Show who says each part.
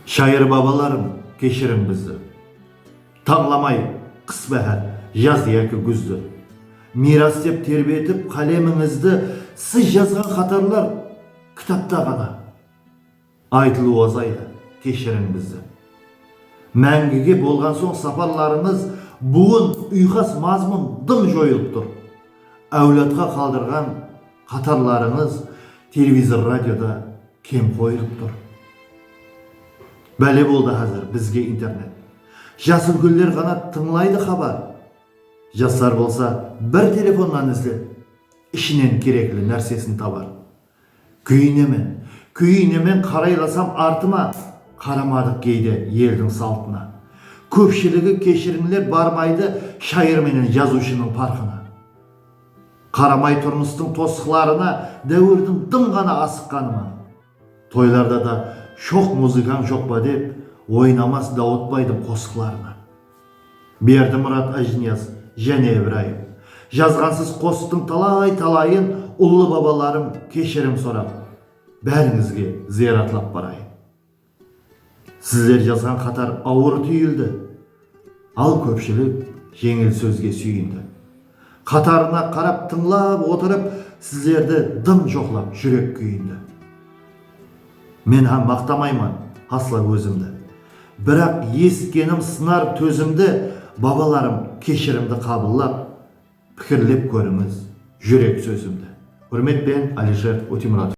Speaker 1: Shayır babalarım, keshiriń bizdi. Tańlamay qıs báhár, jaz yaki gúzdi. Miyras dep terbetip qálemińizdi Siz jazǵan xatarlar kitapta ǵana. Aytılıw azaydı, keshiriń bizdi. Máńgige bolǵan soń saparlarımız Buwın uyqas mazmun dım joyılıp tur. Áwladqa qaldırǵan Qatarlarıńız televizor radioda kem qoyılıp tur. Bále boldı házir bizge internet. Jas úlkenler ǵana tıńlaydı xabar. Jaslar bolsa bir telefonnan izlep ishinen kerekli nársesin tabar. Kúyinemen, kúyinemen qaraylasam artıma qaramadıq geyde eldiń saltına. Kópshiligi keshirińler barmaydı shayır menen jazıwshınıń parqına. Qaramay turmıstıń tosıqlarına dáwirdiń dım ǵana asıqqanı ma? Toylarda da shoq muzıkań joq pa dep oynamas Dawıtbaydıń qosıqlarınan. Berdimurat Ájiniyaz, Jáne Ibrayım. Jazǵansız qosıqtıń talay-talayın ullı babalarım keshirim sorap, bárińizge zıyaratlap barayın. Sizler jazǵan qatar awır túyildi, al kópshilik jeńil sózge súyindi. Qatarına qarap tıńlap otırıp, sizlerdi dım joqlap júrek kúyindi. Men hám maqtamayman asla ózimdi, biraq esitkenim sınar tózimdi, babalarım keshirimdi qabıllap, pikirlep kórińiz júrek sózimdi. Húrmetpen Alisher Utimuratov.